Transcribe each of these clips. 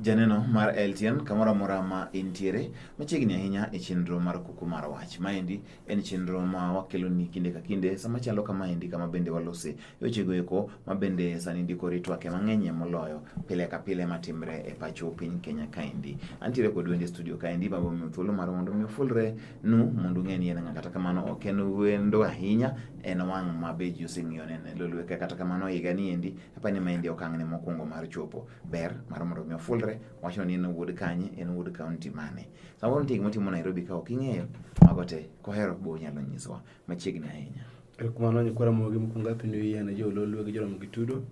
Janeno mar LTN kamoro amora ma intiere machiegni ahinya e chenro mar kuku mar wach. Maendi en chenro ma wakeloni kinde ka kinde sama chalo kama endi kama bende walose wechego eko ma bende sani ndiko ritwake mang'enyie moloyo pile ka pile matimre e pacho piny Kenya kaendi. Antiere kod wende studio kaendi ma bomiyo thuolo mar mondo mi ofulre nu mondo ung'e ni en ng'a kata kamano ok en wendo ahinya en wang' ma be ji oseng'iyo nene lolweka kata kamano higa ni endi apani maendi okang'ne mokwongo mar chopo. ber mar mondo mi ofulre wacho ni en wuod kanye en wuod kaunti mane samoro nitie gima timo Nairobi ka ok ing'eyo mago te kohero bo nyalo nyisowa machiegni ahinya erokumano nyikwara mogi mokwongo apindu yie na jololwe gi joromo gi tudo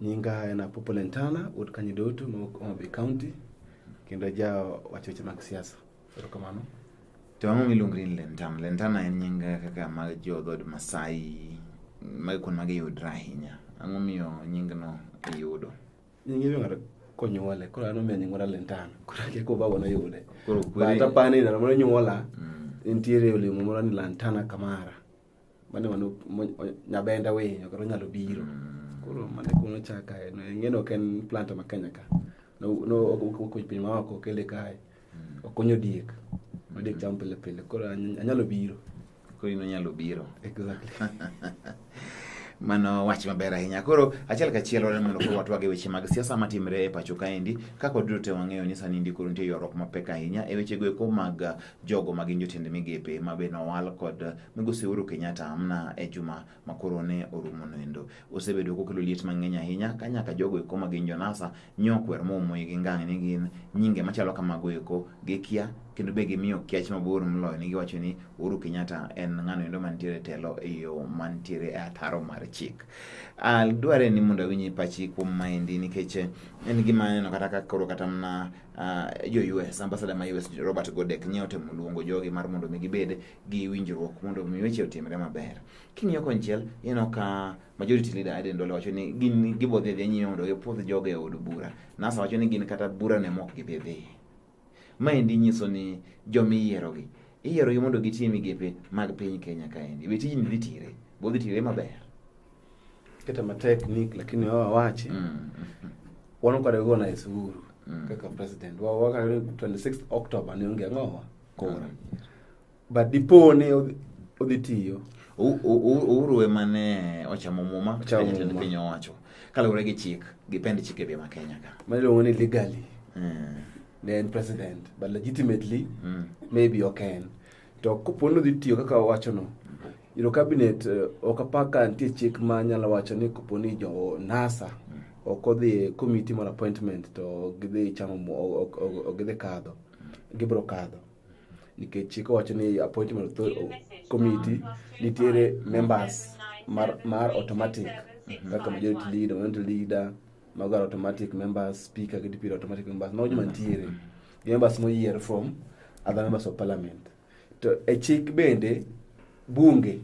nyinga en apopo lentana wuod kanyidoto ma wuok Homa Bay county kendo ja wacho weche mag siasa Erokamano. To ang'o miluongo ni lentana? Lentana en nying kaka mag jo dhod Masai mag kuond magi yudre ahinya. Ang'o miyo nyingno iyudo? Nying iluongo konyuole koro an omiyo nyingora lentana koro ake kobago noyude but apani ndalo moro nyuola mm. nitiere olemo moro ni lantana kamara mane mano nyabenda winyo kata onyalo biro mm. koro mane kuno chaka ng'eno ok en plant ma Kenya ka nokuny piny ma oko kele kae mm. okonyo diek ma diek chamo pile pile koro anyalo biro koro in onyalo biro exactly mano wach maber ahinya koro achiel kachiel wan mondo koro watwag e weche mag siasa matimre e pacho kaendi kaka waduto te wang'eyo ni sani ndi koro nitie ywaruok mapek ahinya e wechego eko mag jogo ma gin jotend migepe ma be nowal kod migosi Uhuru Kenyatta amna e juma ma koro ne orumo noendo osebedo kokelo liet mang'eny ahinya ka nyaka jogo eko ma gin jonasa nyokwer momoyi gi ngang' ni gin nyinge machalo kamago eko gikia kendo be gimiyo kiach mabor moloyo ni giwacho ni Uhuru Kenyatta en ng'ano endo mantiere telo e yo mantiere e ataro mar chik. Uh, dware ni mondo awinyi pachi kuom maendi nikech en gima aneno kata ka koro kata mana uh, jo US ambasada ma US Robert Godek nye otemo luongo jogi mar mondo mi gibed gi winjruok mondo mi weche otimre maber. King'iyo konchiel ineno ka majority leader Aden Dole wacho ni gin gibodhi dhi nyime mondo gipwodh jogo e od bura. NASA wacho ni gin kata bura ne mok gidhi dhi. Maendi nyiso ni jomi yierogi iyierogi mondo gitie migepe mag piny Kenya kaendi. Be tijni dhi tire? Bodhi tire maber? keta matek ni lakini wao wawache mm. wanokarego na Uhuru mm. kaka president wao wakare 26 October ni onge ngowa kora mm. but dipo ne odhi tiyo Uhuru ema ne ochamo muma jatend piny owacho kaluwore gi chik gi pend chik e bima Kenya ka ma iluongo ni legally mm. ne en president but legitimately mm. maybe ok en To kopo ni odhi tiyo kaka owachono, iro kabinet eh, ok apar ka nitie chik ma nyalo wacho ni kopo ni jo NASA ok odhi e komiti mar appointment to gidhi chamo gidhi kadho gibiro kadho nikech chik owacho ni appointment committee nitiere members mar, mar automatic mhm. kaka majority leader, minority leader mago automatic members speaker gi deputy automatic members mago joma nitiere mhm. gi members moyier from other members of parliament to e chik bende bunge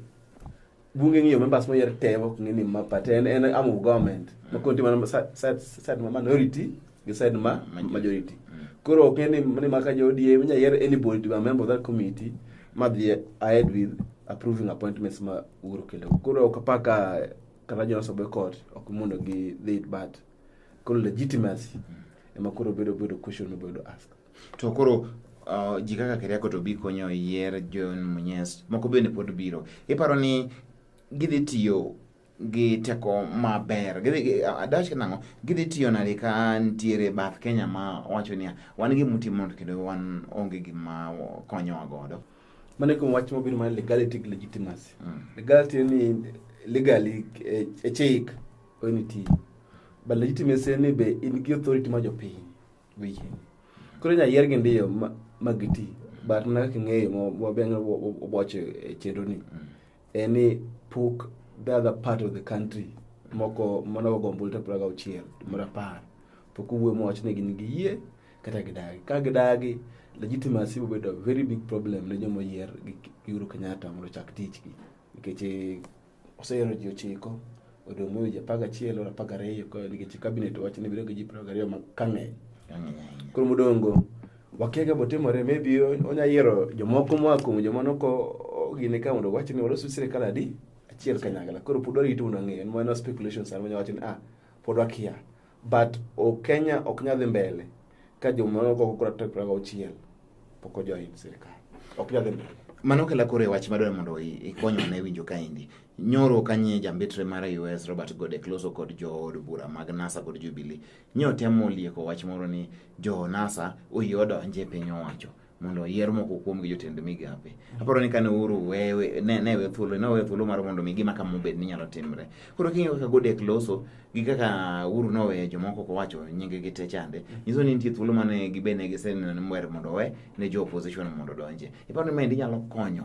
bunge ng'iyo members moyier te ok ng'e ni ma party en en arm of government ma konti mana sa- sa- side ma minority gi side ma majority koro ok ng'e ni ni ma ka jo ODM inya yier anybody to be a member of that committee ma dhi ahead with approving appointments ma Uhuru kelo koro ok apaka kata Jonas Obekot ok mondo gi dhi it bat Koro legitimacy ema koro bedo bedo question obedo ask. To koro uh, ji kaka Keriako to bi konyo yier John Munyes moko bende pod biro. Iparo ni gidhi tiyo gi teko maber adach uh, nang'o gidhi tiyo nade ka ntiere bath kenya ma wacho niya wan gi muti mondo kendo wan onge gima konyowa godo mane kuom wach mobiro mar legality gi legitimacy mm. legality ni legally e, e chik When it is. But legitimacy ni be in gi authority ma jopiny wiye. Koro nya yier gi ndiyo ma giti. But na kaka ng'eyo mwabenga oboche e chenro ni. Mm. En ni pok the other part of the country moko mana ogombo lita praga uchiel mara par. Pok uwe mwach ni gin gi yie kata gidagi. Ka gidagi legitimacy will be a very big problem ne joma yier gi Uhuru Kenyatta mondo chak tich gi. Nikech oseyero ji ochiko odong' weche apar gachiel or apar gariyo nikech kabinet wach ni bedo gi ji piero gariyo ka ng'eny koro modongo wakiaga botimore maybe onya yiero jomoko moa kuom joma noko gine ka mondo wach ni walosu sirikal adi achiel kanyakla koro pod warito mondo ang'e en mana speculations an manya wach ni ah pod wakia but o Kenya ok nyal dhi mbele ka joma nogo kura tarik piero ariyo gauchiel pok ojoin sirkal ok nyal dhi mbele mano kela koro e wach madwaro mondo i- ikonywa ne winjo kaendi nyoro kanye jambetre mar us robert godek loso kod jood bura mag nasa kod jubilee nyo temo lieko wach moro ni jo nasa oyie odonje e piny owacho mondo oyier moko kuom gi jotend migape. Aparo ni kane uru wewe ne ne we thuolo ne we thuolo mar mondo mi gima kama obed ni nyalo timre. Koro king'eyo kaka Godek loso gi kaka uru no we jomoko ko wacho nyinge gi te chande. Nyiso ni nitie thuolo mane gibene giseneno ni mwer mondo we ne jo opposition mondo donje. Iparo ni mendi nyalo konyo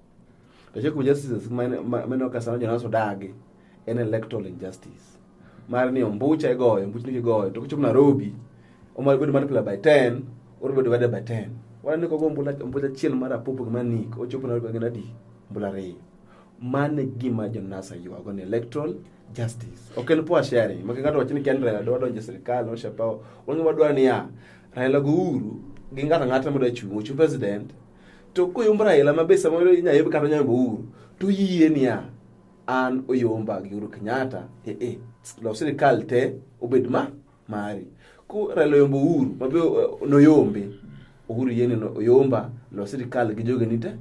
to cheko justices mane okasano jonas odagi en electoral injustice mar ni ombucha igoyo ombuch ni igoyo to kichop Nairobi omar bedo multiplied by 10 or bedo divided by 10 wana ni kogo ombula ombula chiel mar apopo ma nik ochopo Nairobi ngina di ombula re mane gima jonasa yuago ni electoral justice ok en poa sharing maka ng'ato wacho ni ken Raila dwa donjo e sirkal oshapawo wang'e wadwa niya Raila go uru gi ng'ato ang'ata modwa chung' ochung' president To koyomb Raila ma be samoro inyalo yomb kata onyalo Uhuru to yie niya an oyomba gi Uhuru Kenyatta eh eh los sirikal te obed ma mari. Ko Raila oyombo Uhuru ma be eh, noyombe Uhuru yie ni oyomba los sirikal gi jogeni te.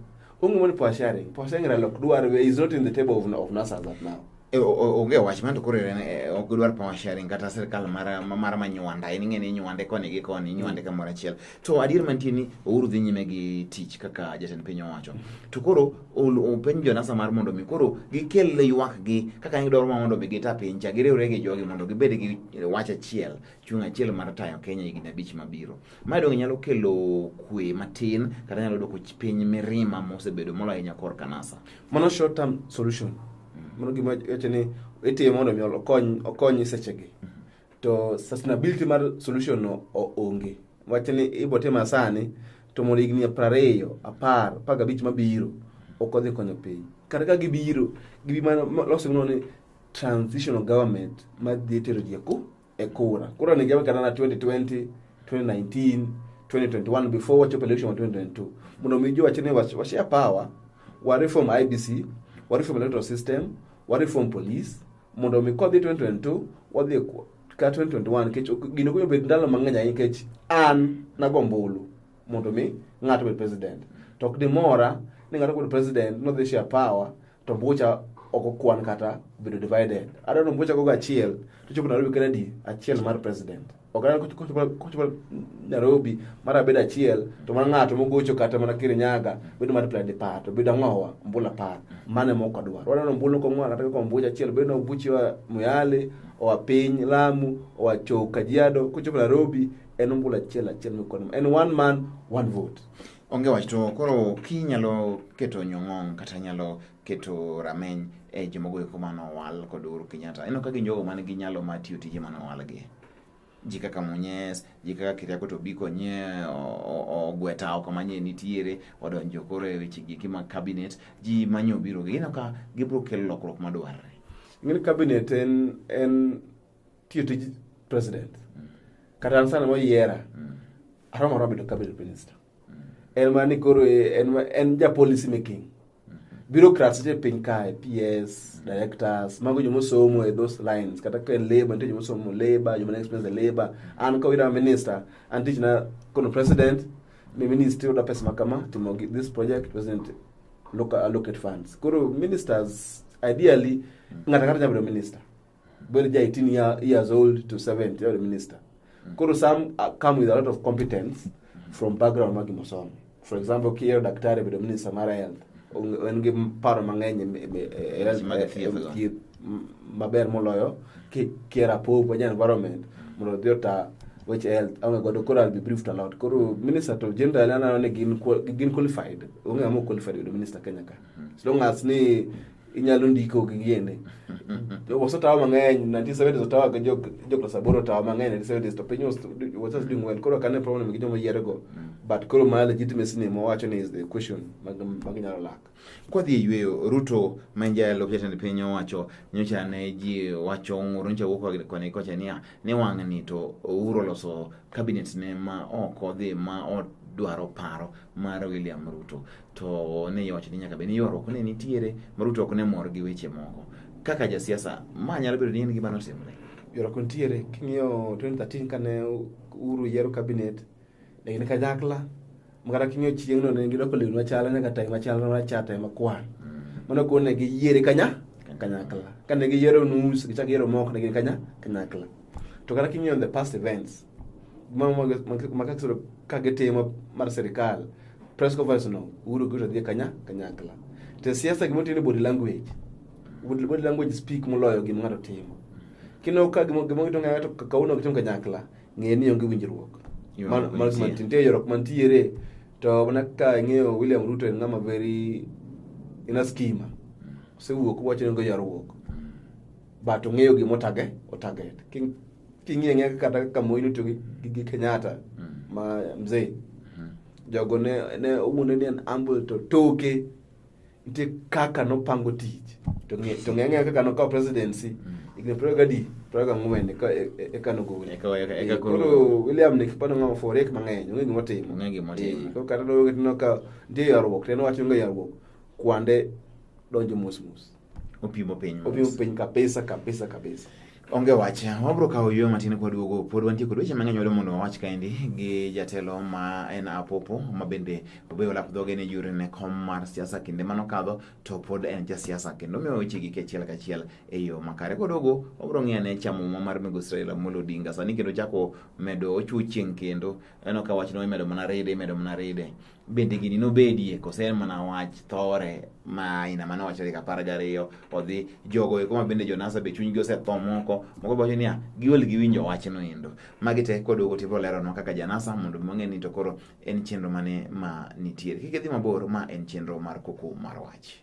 Onge mani power sharing. Power sharing Raila ok dwar is not in the table of, of NASA that now. E, onge wach man to koro e, ok gidwar power sharing kata sirkal mar mar manywanda en ing'e ni nywande koni gi koni nywande mm. kamoro achiel to adier mantie ni ouru dhi nyime gi tich kaka jatend piny owacho to koro openj jonasa mar mondo mi koro gikel ywak gi kaka gidwaro ma mondo mi gita piny cha giriwre gi jogi mondo gibed gi wach achiel chung' achiel mar tayo Kenya higni abich mabiro Mae donge nyalo kelo kwe matin kata nyalo dwoko piny mirima mosebedo moloyo ahinya kor kanasa. Mano short term solution. Mm. Mano gima wacho ni itimo mondo mi okony okony sechegi. Mm. To sustainability mar solution no onge. Wach ni ibo tima sani to mondo higni prariyo, apar, apar gabich mabiro ok odhi konyo piny. Kata ka gibiro, gibi mana loso gimoro ni transitional government ma dhi tero ji e e kura. Kura ni jawe kana na 2020, 2019, 2021 before wachopo election wa 2022. Muno mijo wachine wa, wa share power, wa reform IBC, wa reform electoral system, wa reform police, muno mi kodhi 2022 wadhi ka 2021 kech gino kunyo bet ndalo mang'eny ahinya kech an nagombulu mondo mi ng'ato obed president to ok dimora ni ng'ato kod president nodhi share power to mbucha ok okwan kata bedo divided adwa ni mbucha gogo achiel to chopo nairobi kata di achiel mar president ok adwa kochopo nairobi mar abedo achiel to mana ng'ato mogocho kata mana kirinyaga bedo mar play dipar to bedo ang'owa mbula par mane mok adwar wadwa ni mbula kong'owa kata kaka mbucha achiel bedo nobuchiwa muyale oa piny lamu oa chou kajiado kochopo nairobi en ombulu achiel achiel mikono en one man one vote onge wach to koro kinyalo keto nyong'ong kata nyalo keto rameny e jomogo eko mane owal kod Uhuru Kenyatta eno ka gin jogo man gi nyalo mar tiyo tije mane owalgi ji kaka Munyes ji kaka Keriako to biko nye ogweta oko manye nitiere odonjo koro e weche gi kima cabinet ji manye obiro gi eno ka gibiro kelo lokruok madwarre ng'e cabinet en en tiyo tij president kata an sana moyiera aromo aromo bedo cabinet minister en ma ni koro e, en, en ja policy making bureaucrats te piny kae ps directors mago joma osomo e those lines kata ka en labor nitie joma osomo labor joma experience e labor an ka wira minister an tich na kono president ni ministry oda pesa makama timo this project president look allocate funds koro ministers ideally ng'ata kata nyabedo minister very 18 year, years old to 70 or minister koro some uh, come with a lot of competence from background ma gimosomo for example kiyo daktari bedo minister mar health en gi paro mang'eny thieth maber moloyo kier apop wanya environment mondo odhi ota weche health aonge godo koro I'll be briefed a lot koro minister to generally aneno ni gin qualified onge ng'ama qualified bedo minister Kenya ka as long as ni inyalo ndiko gi gini wasetawa mang'eny 1970 otawa gi joklas aboro otawa mang'eny 1970 to piny was just doing well koro kane problem gi joma yierego but koro ma legitimacy ni mowacho ni is the question mag nyalo lak kwadhi e yweyo ruto ma en jalo jatend piny owacho nyocha ne ji wacho ng'ur nyocha wuok koni kocha niya ni wang'ni to ouro oloso cabinet ne ma ok odhi ma odwaro paro mar william ruto to ne iwacho ni nyaka bed ni ywaruok ne nitiere ma Ruto ok ne mor gi weche moko kaka jasiasa ma nyalo bedo ni en gima notimre ywaruok nitiere king'iyo 2013 kane Uhuru yiero kabinet ne gin kanyakla makata king'iyo chieng'no ne gidoko lewni machalo nyaka tai machalo marachar tai makwar mm. mano kuon ne giyiere kanya kanyakla kane giyiero nus gichak yiero moko ne gin kanya kanyakla to kata king'iyo the past events makakisoro ka gitimo mar sirikal press conference no uru gito dhi kanya kanyakla te siasa gimo tini body language body language speak moloyo gima ng'ato timo kino ka gimo gimo gito ng'ato kauno gitimo kanyakla ng'e ni onge winjruok man man mantie yorok mantiere to mana ka ing'eyo William Ruto en ng'ama very ina skima osewuok wacho ni onge yorruok but ong'eyo gima otage otaget King'iye ng'e kata ka Moi notiyo gi Kenyatta mm. ma mzee mm-hmm. jogo ne ne owuonde ni en humble to toke nitie kaka nopango tich to ng'e to ng'e ng'e kaka nokawo presidency mm. higni piero gadi piero gang'wen eka eka nogol eka koro William ni kipano ng'ama forek mang'eny onge gima otimo onge gima otimo koro kata nowe ka nitie yarruok to en owacho onge yarruok kwande donjo mos mos opimo piny opimo piny kabisa kabisa kabisa onge wach wabro kawo yo matin kwaduogo pod wantie kod weche mang'eny wado mondo wawach kaendi gi jatelo ma en apopo ma bende obeyo lap dhoge ni jure ne kom mar siasa kinde mano kadho to pod en ja siasa kendo omiyo weche gi kachiel kachiel e yo makare kodogo wabro ng'iyo ane chamo muma mar migo israel amolo odinga sani kendo chako medo ochuo chieng' kendo aneno ka wachno imedo mana ride imedo mana ride bende gini nobedie kose en mana wach thore ma aina mane wacho tarik apar gariyo odhi jogo eko ma bende jonasa be chunygi osetho moko moko be wacho niya giol giwinjo wachno endo magi te koduogo to ibiro leronwa kaka janasa mondo mong'e ni to koro en chenro mane ma nitiere kik idhi mabor ma en chenro mar koko mar wach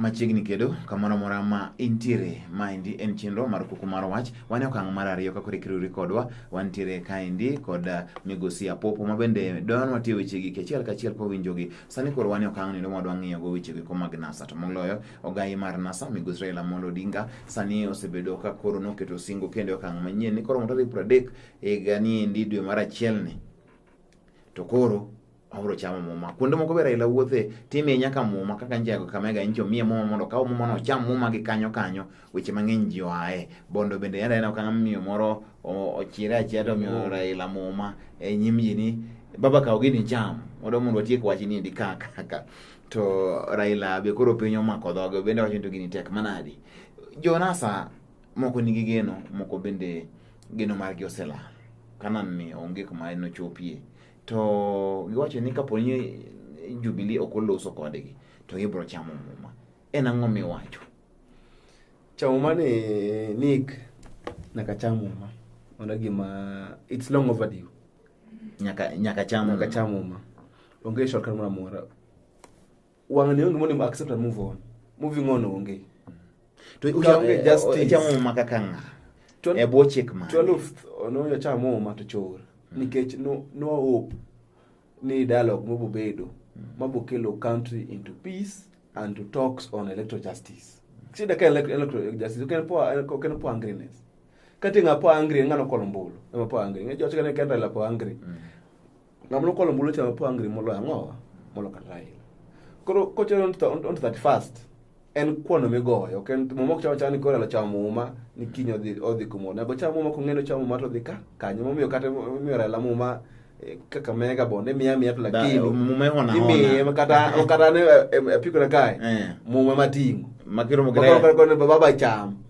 machiegni kedo kamoro amora ma intiere maendi en chenro mar kuku mar wach wan e okang' mar ariyo ka koro ikiriwri kodwa wantiere kaendi kod uh, migosi apopo ma bende don watiyo wechegi kachiel kachiel kwawinjogi sani koro wan e okang' nindo mwadwa ng'iyogo wechego ko mag nasa to moloyo Ogayi mar NASA Migosi Raila Amolo Odinga sani osebedo ka koro noketo singo kendo e okang' manyien ni koro mo tarik pradek higa ni endi dwe mar achiel ni to koro abro chamo muma. Kuonde moko be Raila wuothe time nyaka muma kaka nje go kamega injo mie muma mondo kaw muma no cham muma gi kanyo kanyo weche mang'eny ji oae. Bondo bende yanda ena okang' miyo moro ochire achiel to miyo Raila muma e nyim ji ni baba kaw gini cham. Mondo mondo watiek wach ni endi kaka. To Raila be koro piny omako dhoge bende wacho ni to gini tek manadi. Jonasa moko nigi geno, moko bende geno margi oselal. Kanan ni onge kuma nochopie. To giwacho ni kapo ni Jubilee ok oloso kodgi to gibiro chamo muma. En ang'o miwacho? Chamo muma ni Nick nyaka cham muma. Mano gima it's long overdue. Nyaka nyaka cham nyaka cham muma. Onge shortcut moro amora. Wang'ni onge mondo accept and move on. Moving on onge. To onge justice. Chamo maka kanga. E bwo chik ma. 12 ono yo chamo ma to chor. Mm. Nikech no no hope ni dialogue mobo bedo mm. mabo kelo country into peace and to talks on electoral justice. Sida ka electoral justice oken po oken po angriness. Kati ngapo angry ngano kolombolo. Ngapo angry. Ngajo chikane kenda la po angry. Mm. ng'ama nokwalo ombulu cha po angry moloyo ang'owa molo kata Raila koro kochero on to that first en kwano migoyo ok en muma ok chama chama ni koro elo chamo muma ni kiny odhi odhi kumoro nego chamo muma kong'eno chamo muma to odhi ka kanyo momiyo kata momiyo Raila muma eh, kaka mega bonde miya miya to lakini muma hona imiye kata kata ne apiko na kae eh. muma matingo makiro mugre baba cham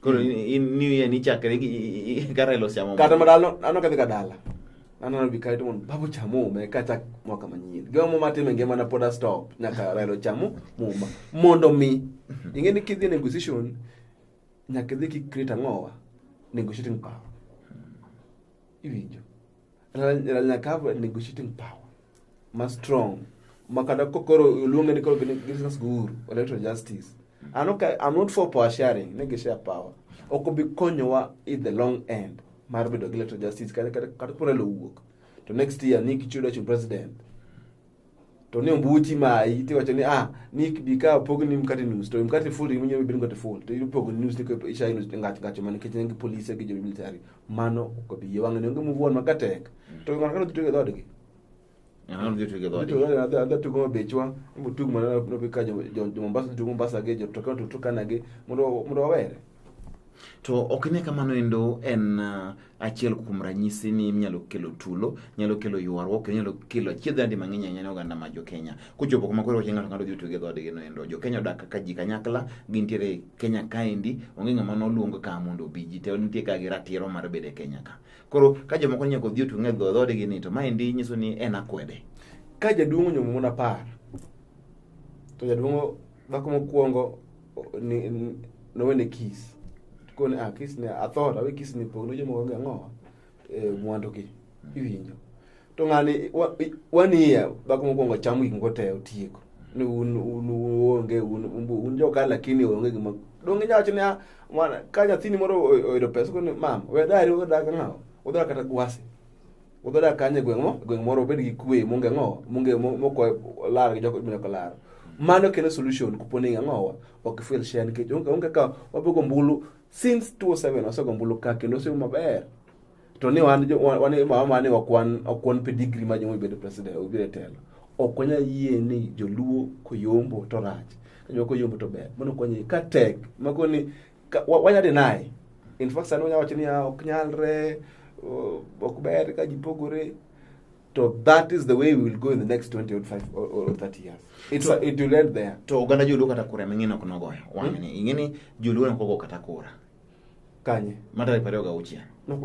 Koro in new year ni chakre gi karelo chamo. Kata madalo ano kadhi kadala. Ano na bikaito mon babu chamo me kacha mwaka manyien. Gwa mo matime ngema na poda stop nyaka relo chamo muma. Mondo mi inge ni kidhi negotiation nyaka dhi ki create angowa negotiating power. Iwinjo. Ralina Kava negotiating power ma strong makata kokoro oluonge ni koro business guru electoral justice I'm not, I'm not for power sharing ne gishare power ok obi konyowa in the long end mar bedo gi electoral justice kata kata kata koro lowuok to next year ni kichudo chung president to ne ombuchi mayi tiwacho ni ah ni bi ka opogni mkate nus to mkate full ringo nyalo bedo mkate full to ipogo nus ni ko isha nus ngach ngach man kitchen ngi police gi jobi military mano ko bi ye wang'e ngi muvuon makatek to ng'at kano tutuge dhod gi ng'ano dhi tutuge dhod gi adha adha tugo mabechwa mbo tug mana no bi ka jo jo Mombasa tugo Mombasa gi jo to kano tutukana gi mondo mondo wawere To ok ne kamano endo en uh, achiel kuom ranyisi ni inyalo kelo tulo, nyalo kelo ywaruok, nyalo kelo achiedh adi mang'eny ahinya ne oganda ma Jokenya. Kochopo kama koro wacho ng'ato ng'ato dhi tuge dhoodgi no endo. Jokenya odak kaka ji kanyakla, gintiere Kenya kaendi, onge ng'ama noluong ka mondo obi. Ji te nitie ka gi ratiro mar bedo e Kenya ka. Koro ka jomoko nyaka odhi otuge dhoodgi ni to maendi nyiso ni en akwede. Ka jaduong' onyuomo mon apar, to jaduong' dhako mokwongo nowene kis kone ah kis ne athora we kis ne pogno jomo onge ang'o e, mwandu gi iwinjo to ng'ani waniya bako mokwongo cham gik moko te otieko ni un un onge un un joka lakini onge gima donge nyawacho ni ah, ka nyathini moro oyudo pesa kone mam we dari odak ang'awo odara kata gwasi Wuodho dak kanye gweng' mo, gweng' moro obed gi kwe, munge ng'o, munge moko lar gi joko ibino kolar. Mano kelo solution kupo ni ng'owa ok feel share nikech onge onge ka wabogo mbulu since 2007 wasego mbulu ka kendo osego maber. To ni wan jo wan wan mama mane wakwan okwan pedigree ma jomo bedo president obiro telo. Ok wanya yie ni joluo koyombo to rach. Joluo koyombo to ber. Mano konye ka tek. Makoni wanya deny in fact sani wanya wacho ni ah, ok nyalre ok ber ka ji pogore to that is the way we will go in the next 20 or 5 or, or 30 years it, so, it will end there to oganda joluo kata kura ming'in ok nogoyo wang'e ni hmm? ing'eni joluo ok ogo kata kura kanye matarik pariyo ga uchiel to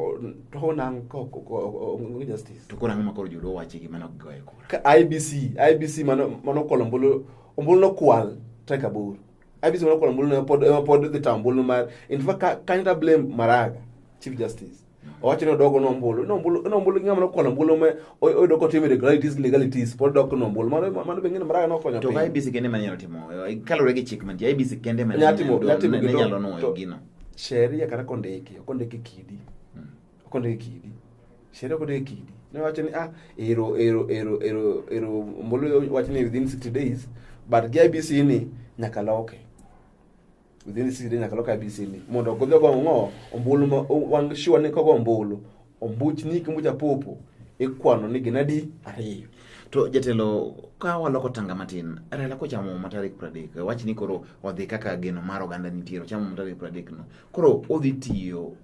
koro ang'o makoro joluo wachi gi mano gigoye kura ibc ibc mano mano kolo ombulu ombulu nokwal tarik aboro abisi mana kola mbulu pod ema pod dhi tam mbulu mar in fact ka kanyita blame maraga chief justice owacho ni odogo no mbulu no mbulu no mbulu ngama kola mbulu me oyudo ko timo irregularities legalities pod dok no mbulu mano mano bengine maraga no konyo to IBC kende manyalo timo kalore gi chik man IBC kende manyalo timo nyalo no gino sheria kata kondiki kondiki kidi okonde gi kidi sheria okonde gi kidi ne wacho ni ah ero ero ero ero ero mbolo wacho ni within 60 days but gi IBC ni nyaka loke within 60 days nyaka loke IBC ni mondo ogodhi ogo ng'o ombulu ma wang sure ni kogo ombulu ombuch ni kimbucha popo ikwano ni ginadi ariyo To jatelo, ka waloko tanga matin, Raila kochamo muma tarik pradek, wach ni koro odhi kaka geno mar oganda nitiere, ochamo muma tarik pradek no. Koro odhi tiyo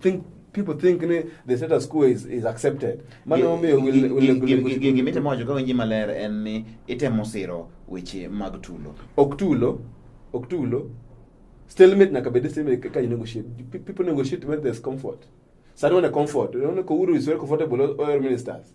think people think ni the status quo is, is accepted mano omiyo gimitemo wacho ka winji maler en ni itemo siro weche mag tulo ok tulo ok tulo stalemate nyaka bed stalemate ka negotiate people negotiate when there's comfort sani wane comfort unaona ko Uhuru is very comfortable oil ministers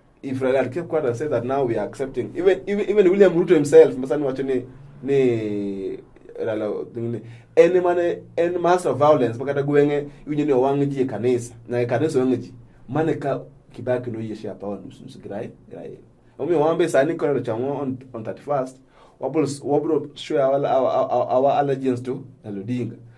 if Raila kept quiet and said that now we are accepting even even, even William Ruto himself masa ni wacho ni ni Raila ni en mane en mass of violence makata gwenge iwinjo ni owang' ji e kanisa na e kanisa owang' ji mane ka Kibaki noyeshe hapa wa nusu nusu girai girai omi wambe sani kwa chango on, on 31st wabro wabro share our, our, our, our allegiance to Raila Odinga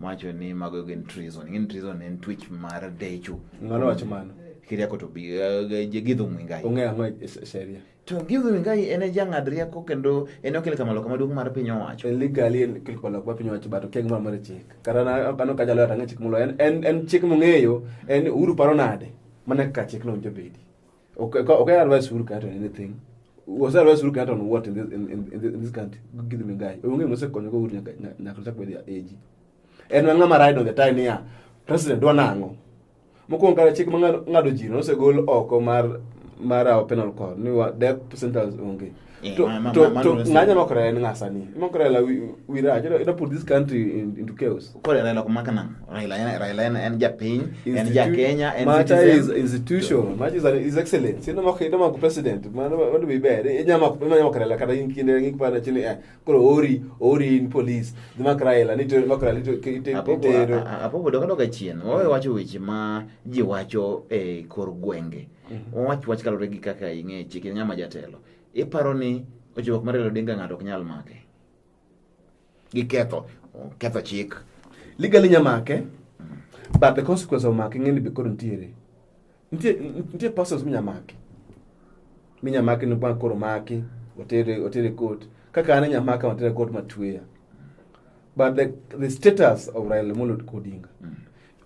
Macho ni mago gin treason. Gin treason en twitch mar decho. Ng'ano wacho mano? Kiria koto bi eh, gidho mwingai. Ong'e ang'o e sheria? To gidho mwingai en e jang'ad rieko kendo en e okelo kamalo kama duong' mar piny owacho. En legally en okelo kamalo kama piny owacho bato keng' mar chik. Kata na kano ka jalo atang'e chik mulo en en chik mong'eyo en uru paro nade? Mana ka chik no jobedi. Okay, okay, advice Uhuru Kenyatta on anything. Was advice Uhuru Kenyatta on what in this in, in, in this country? Give me a guy. Onge mse konyo go Uhuru Kenyatta kwa dia age. En wanga ma ride on the time ya president do nango. Mokuongo kare chik mangado jino osegol oko mar mar penal court ni death sentence onge. Eh, to, ma, to, ma, to, ma, nganya no kore nga sani mo kore la we, we raj you know, put this country in, into chaos kore la la kuma kana raila ena raila ena en japin en ja kenya en mata is institution mata is, is excellent sino mo kore ma ku president ma no be bad e nyama ku ma nyama kore la kada in kinde ngi pa na chini eh kore ori ori in police de ma kore la ni to ma kore la to te te apo bodo ka doka chien wawe wacho weche ma ji wacho e kor gwenge Mhm. Wawach wach kalore gi kaka ing'e chike nyama jatelo. Iparo ni ojuok mar Raila Odinga ng'ato ok nyal make. Gi ketho, ketho chik. Legally nya make, mm. but the consequence of make ng'eni be kod ntiere. Ntie, ntie persons minya make. Minya make ni bang' koro make, otere, otere court. Kaka ane nya make, otere court matueya. But the, the status of Raila Molo Odinga, mm.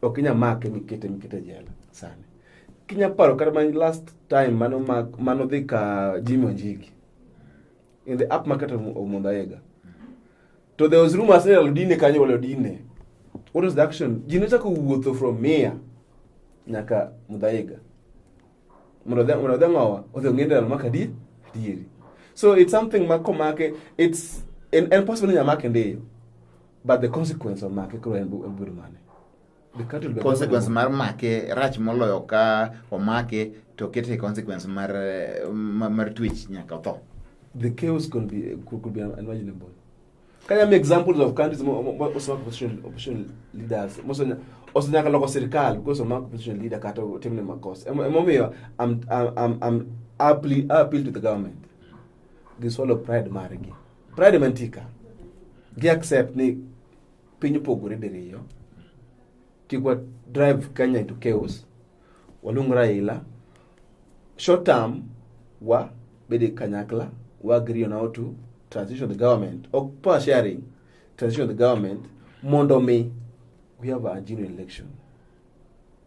Ok inya make mikete mikete jela sani. Kinya paro kata man last time mano mak mano dhi ka Jimmy Wanjigi. In the up market of Omondayega. To there was rumors that Odine kanyo wale Odine. What was the action? Jino chako wuotho from Mia nyaka Mudhaiga. Mudhaiga ng'owa odhi ong'ende dal maka di dieri. So it's something ma komake it's en, en possible ni nyamake ndiyo But the consequence of make koro en biro mane? The cattle be consequence mar make rach moloyo ka omake to kete consequence mar mar, mar twitch nyaka tho. The chaos could be could be unimaginable. Can I make examples of countries most of opposition opposition leaders most of also nyaka loko sirkal because of opposition leader kata timne makosa. Emomiyo I'm I'm I'm appeal appeal to the government. Gisolo pride margi. Pride mantika gi accept ni piny opogore diriyo kik wa drive Kenya into chaos waluong Raila short term wa bede kanyakla wa agree on how to transition the government or power sharing transition the government mondo mi we have a genuine election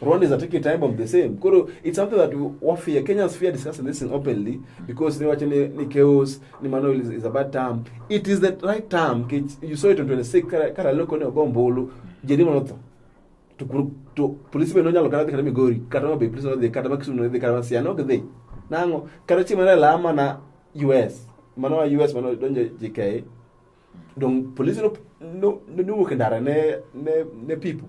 Rwandans are taking time of the same. Koro it's something that we fear. Kenyans fear discussing this thing openly because they watch ni, ni chaos, ni mano is, is a bad term. It is the right term. You saw it on 26 kara, kara loko ni ogombolo. Jedi monoto. To, to police be nonya lokana kata migori. Kata be police no de kata makisu no de kata siano ke de. Nango kata chima na lama na US. Mano US mano donje JK. Dong police no no no no kandara ne ne ne people.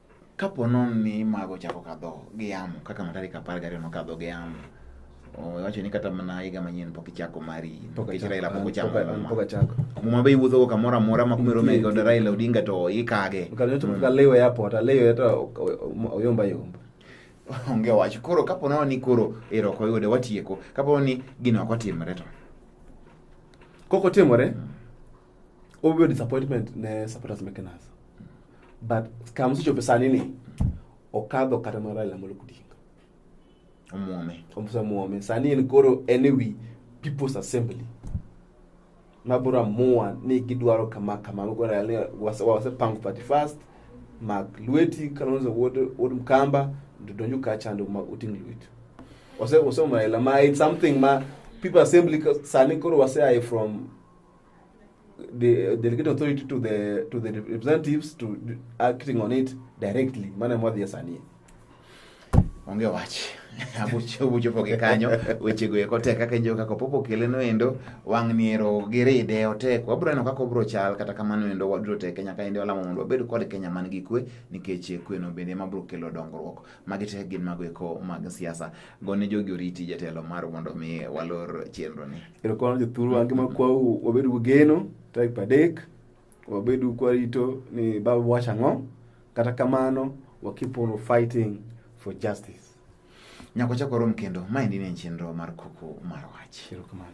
Kapo nono ni mago chako kadho gi yamo kaka ma tarik apar gariyo nokadho gi yamo wacho ni kata mana higa manyien pok ichako mari nikech Raila pok ochako muma be iwuothogo kamoro amora ma kumero mege kod Raila Odinga to ikage kalewe airport alewe to oyomba yomba onge wach koro kapo nono ni koro ero ok oyude watieko kapo ni gino ok otimre to kok otimore mm. Obvious disappointment ne supporters meke nasa. But kama sicho pesa nini? Okadho kata mara ila molo kudinga. Omuome. Omusa muome. Sani en koro anyway people's assembly. Mabura mua ni gidwaro kama kama mabura yale wase wase pangu party first. Mark Lueti kalonzo wod wod mkamba ndonyo kacha ndo uting Lueti. Ose ose mara ila ma it's something ma people assembly sani koro wase aye from the delegate authority to the to the representatives to acting on it directly mana mwadhi asanie onge wach abuchopo gi kanyo wechego eko tek kaka injo kaka popo keleno endo wang' niero giride otek wabro neno kaka obro chal kata kamano endo wadro teke nyaka ende walamo mondo wabed kod kenya man gi kwe nikech kweno bende ema bro kelo dongruok Magi te gin mago eko mag siasa. Gone jogi oriti jatelo mar mondo mi walor chenro ni. Erokamano jothuru wange ma kwau wabed gi geno tarik adek wabed kwarito ni baba wacho ang'o kata kamano wa keep on fighting for justice. Nyako chako rom kendo maendi ne chenro mar kuku mar wach. Erokamano.